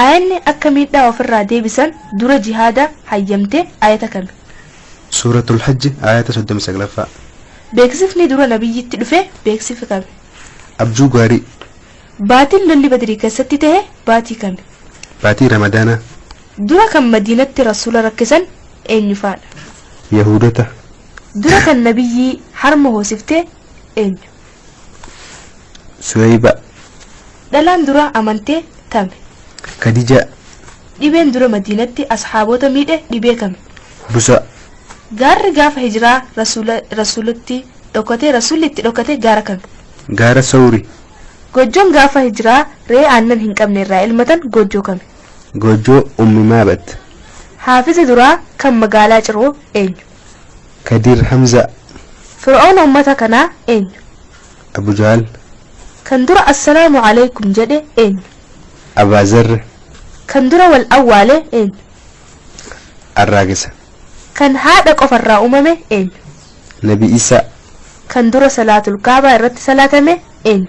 Aayanni akka miidhaa ofirraa deebisan dura jihaada hayyamte aayata kami? Suuratul Hajji aayata 39ffaa. Beeksifni dura Nabiyyitti dhufe beeksifi kami? Abjuu gaarii. Baatin lolli Badrii keessatti tahe baatii kami? Baatii Ramadaanaa. Dura kan Madiinatti Rasuula rakkisan eenyu faadha? Yahuudota. Dura kan Nabiyyii harma hoosifte eenyu? Suweyba. Dhalaan dura amante tame? Kadija. Dhibeen dura Madiinatti ashaabota miidhe dhibee kami? Busa. Gaarri gaafa hijraa Rasuula Rasuulatti dhokate Rasuulli itti dhokate gaara kami? Gaara Sawri. Goojjoon gaafa hijraa re'ee aannan hin qabne irraa elmatan goojjoo kami? Goojjoo Ummi Maabat. Haafiza duraa kan magaalaa Ciroo eenyu? Kadir Hamza. Fir'oona ummata kanaa eenyu? Abu Jahl. Kan dura Assalaamu Aleykum jedhe eenyu? Abaa Zarr. Kan dura wal awwaale eenyu? Arraagessa. Kan haadha qofa irraa uumame eenyu? Nabi Issa. Kan dura Salaatul Ka'bah irratti salaatame eenyu?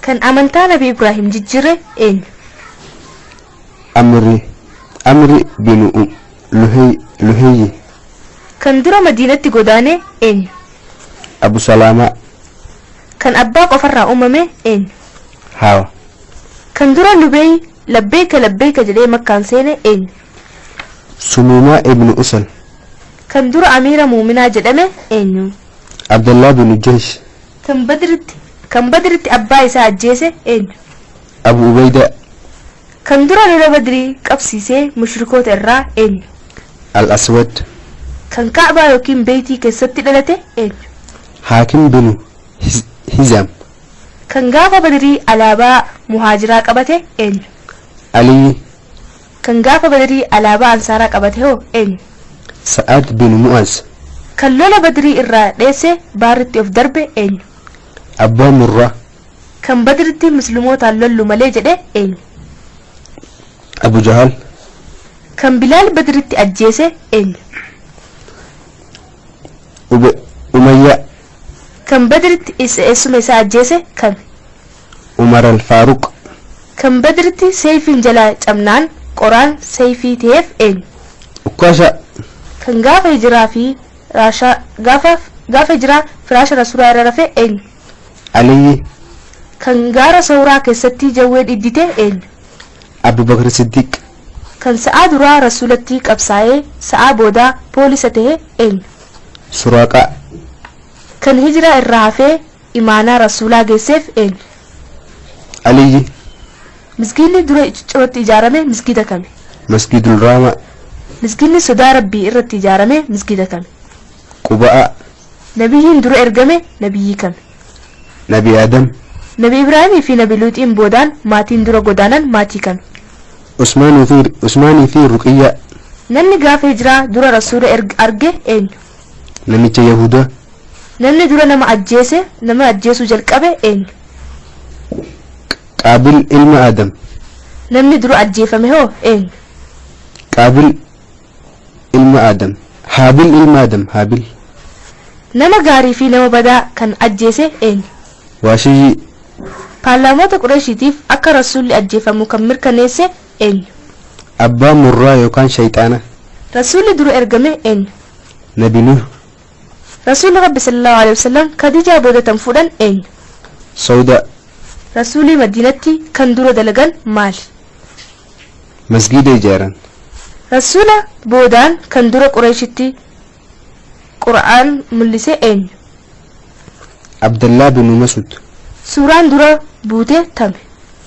Kan amantaa Nabi Ibraahim jijjiire eenyu? Amri Amri binu um, Luhey Luheyyi. Kan dura Madiinatti godaane eenyu? Abu Salaamaa. Kan abbaa qofarraa uumame eenyu? Haawa. Kan dura Lubeey labbeeka labbeeka jedhee Makkaan seene eenyu? Sumuumaa ibnu Usal. Kan dura Amiira Muuminaa jedhame eenyu? Abdallah binu Jahsh. Kan Badritti, kan Badritti abbaa isaa ajjeese eenyu? Abu Ubayda. Kan dura lola Badrii qabsiise mushrikoota irraa eenyu? Al-Aswad. Kan Ka'baa ykn Beeytii keessatti dhalate eenyu? Haakim binu Hizaam. Kan gaafa Badrii alaabaa Muhaajiraa qabate eenyu? Aliyyi. Kan gaafa Badrii alaabaa Ansaaraa qabate hoo eenyu? Sa'ad bin Mu'az. Kan lola Badrii irraa dheesse baarritti of darbe eenyu? Abbaa Murraa. Kan Badritti Muslimootaan lollu malee jedhe eenyu? Abu Jahal. Kan Bilaal Badritti ajjeese eenyu? Ube Umayyaa. Kan Badritti is eessuma isaa ajjeese kami? Umar Al-Faaruq. Kan Badritti Seeyfiin jalaa cabnaan qoraan Seeyfii taheef eenyu? Ukkaashaa. Kan gaafa Hijraa fi raasha gaafa gaafa Hijraa firaasha Rasuulaa irra rafe eenyu? Aliyyi. Kan gaara Sawraa keessatti jawween iddite eenyu? Abu Bakr Siddiq. Kan sa'aa duraa Rasuulatti qabsaayee sa'aa boodaa poolisa tahe eenyu? Suraaqaa. Kan Hijraa irraa hafee Imaanaa Rasuulaa geesseef eenyu? Aliyyi. Misgiidni dura Iciccirootti ijaarame misgiida kami? Masgiidul Raamaa. Misgiidni sodaa Rabbii irratti ijaarame misgiida kami? Quba'aa. Nabiyyiin dura ergame Nabiyyii kami? Nabi Aadam. Nabi Ibraahimii fi Nabi Luuxiin boodaan maatiin dura godaanan maatii kami? Usmaanii fi Usmaanii fi Ruqiyyaa. Namni gaafa hijraa dura Rasuula erg arge eenyu? namicha Yahuda. Namni dura nama ajjeese, nama ajjeesuu jalqabe eenyu? Qaabil ilma Adam. Namni dura ajjeefame hoo eenyu? Qaabil ilma Adam. Haabil ilma Adam, Haabil. Nama gaarii fi nama badaa kan ajjeese eenyu? Waashiyyii. Paarlaamoota Qureeshiitiif akka Rasuulli ajjeefamu kan mirkaneesse eenyu? Abbaa murraa yookaan shayxaana. Rasuulli dura ergame eenyu? Nabi Nuh. Rasuulli Rabbi sallallaahu aleyhi wa sallam Khadiijaa booda tan fuudhan eenyu? Sawdaa. Rasuulii Madiinatti kan dura dalagan maali? Masgiida ijaaran. Rasuula boodaan kan dura Qureeyshitti Qur'aan mullise eenyu? Abdallaah binu Mas'ud. Suuraan dura buute tami?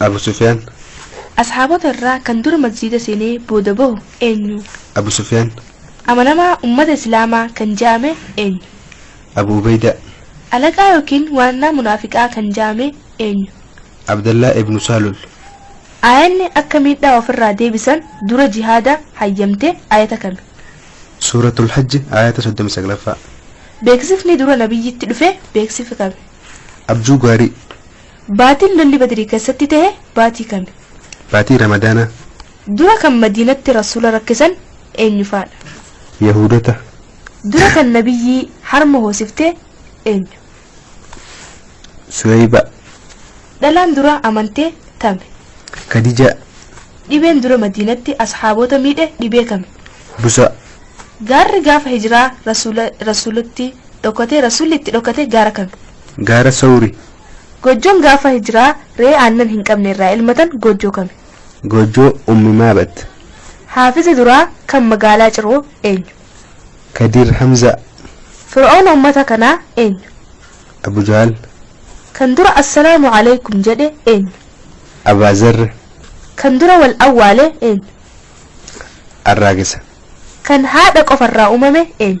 Abu Sufyaan. Ashaabota irraa kan dura masjiida seenee booda bahu eenyu? Abu Sufyaan. Amanamaa ummata Islaamaa kan ja'ame eenyu? Abu Ubeydaa. Alaqaa ykn waannaa munaafiqaa kan ja'ame eenyu? Abdallaah ibnu Saalul. Aayanni akka miidhaa of irraa deebisan dura jihaada hayyamte aayata kami? Suuratul Hajji aayata 39ffaa. Beeksifni dura nabiyyitti dhufe beeksifi kami? Abjuu gaarii. Baatiin lolli Badrii keessatti tahe baatii kami? Baatii Ramadaanaa. Dura kan Madiinatti Rasuula rakkisan eenyu faadha? Yahuudota. Dura kan Nabiyyii harma hoosifte eenyu? Suweyba. Dhalaan dura amante tami? Kadijaa. Dhibeen dura Madiinatti Ashaabota miidhe dhibee kami? Busa. Gaarri gaafa Hijraa Rasuula Rasuulatti dhokate Rasuulli itti dhokate gaara kami? Gaara Sawri. Goojjoon gaafa hijraa re'ee aannan hin qabne irraa elmatan goojjoo kami? Goojjoo Ummi Maabat. Haafizi duraa kan magaalaa Ciroo eenyu? Kadiir Hamzaa. Fir'oona ummata kanaa eenyu? Abu Jahl. Kan dura Assalaamu Aleykum jedhe eenyu? Abaa Zarr. Kan dura wal awwaale eenyu? Arraagesa. Kan haadha qofarraa uumame eenyu?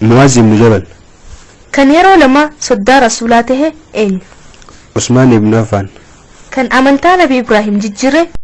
Mu'aaz ibnu Jabal. Kan yeroo lama soddaa Rasuulaa tahe eenyu? Usmaan ibnu Affaan. Kan amantaa Nabi Ibraahim jijjiire